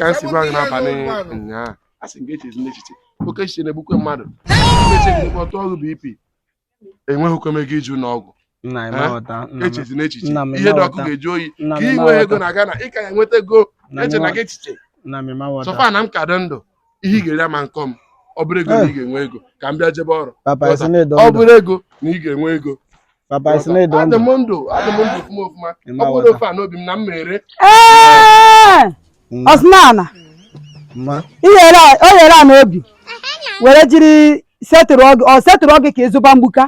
ka m si gwa gị n'abalị ụnyaahụ a sị m gị echezina echiche oke echiche na-egbukwe mmadụ echiche gị ọtụ ọrụ BP enweghịkwa m ego ije ụnọ ọgwụ nna m Eh? aghọta nna m echezina echiche nna m ihe dị ọkụ ị ma aghọta. ga-ajụ oyi nna ka m ị nwee ego ị ma aghọta na Ghana ị ka ya-enweta ego nna m echena ị ma- gị echiche nna m ị ma aghọta so far na m ka dị ndụ ihe ị ga-eri ama nkọ m ọ bụrụ ego na ị ga-enwe ego ka m bịa jebe ọrụ papa ị sị na ị dị ọ ndụ bụrụ ego na ị ga-enwe ego Papa ị sị na ị dị adị ndụ. m ndụ adị m ndụ ọfụma ọfụma Ị ọ ma bụrụ ghọta. ofe ana obi nna m mere Ee! Mma, ọsịnala mma. ihere a- o lere ana obi were jiri setụrụọ gị ọ setụrụọ gị ka ị zụba mgbuka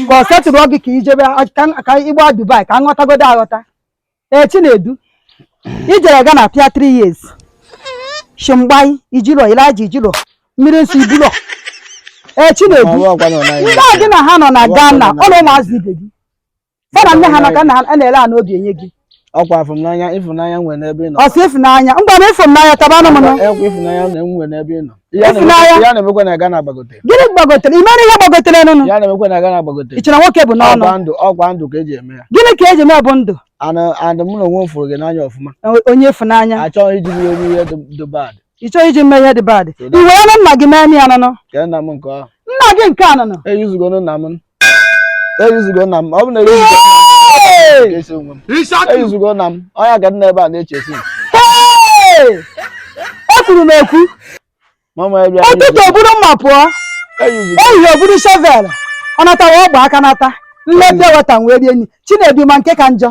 ka ọ setụrụọ gị ka i jebe ka m- ka ị gbaa Dubai ka m ghọtagodo aghọta ee chinedu i jere Ghana pịa 3 years shimgbai i jilo Elijah i jilo mmiri nsọ i bulo ee chinedu Ma ọ bụ ọkwa na ọ naghị ndị a gị na ha nọ na Ọwa Ghana ọkwa ọ na na ụmụazị ibe gị fa na nne ha nọ ka na ha na-ele ana obi enye gị ọkwa afụmnanya ịfụnanya m nwere n'ebe ị nọ ọ sị ịfụnanya ngwa na ịfụnanya tabanụ m nọ Ekwe ịfụnanya na enwe n'ebe ị nọ Ihe a Isi na-eme- n'ahịa. ihe a na-emekwa na Ghana gbagotere gịnị gbagotere imere ihe gbagotere nụnụ ihe a na-emekwa na Ghana gbagotere i chere nwoke bụ n'ọnụ ọkwa ndụ ọkwa ndụ ka e ji eme ya gịnị ka e ji mee bụ ndụ and and mụ na onwe m fụrụ gị n'anya ọfụma O- onye ị fụ n'anya a chọghị iji gị eme ihe dị- dị bad ị chọghị iji mee ihe dị bad So i that- were nụ nna gị mee ya nụnụ kee nna m nke ahụ nna gị nke a nụnụ eyuzugonụ nna m eyuzugo nna m ọ bụ na eyuzugo esi onwe m eyuzugo nna m onye ka nna ebe a na-echesi ekwuru m ekwu ụtụtụ o buru mma pụọ ehihie o buru shovel ọ natawa ọ gba aka nata nleta weta wee rie nri chinedu ma nke ka njọ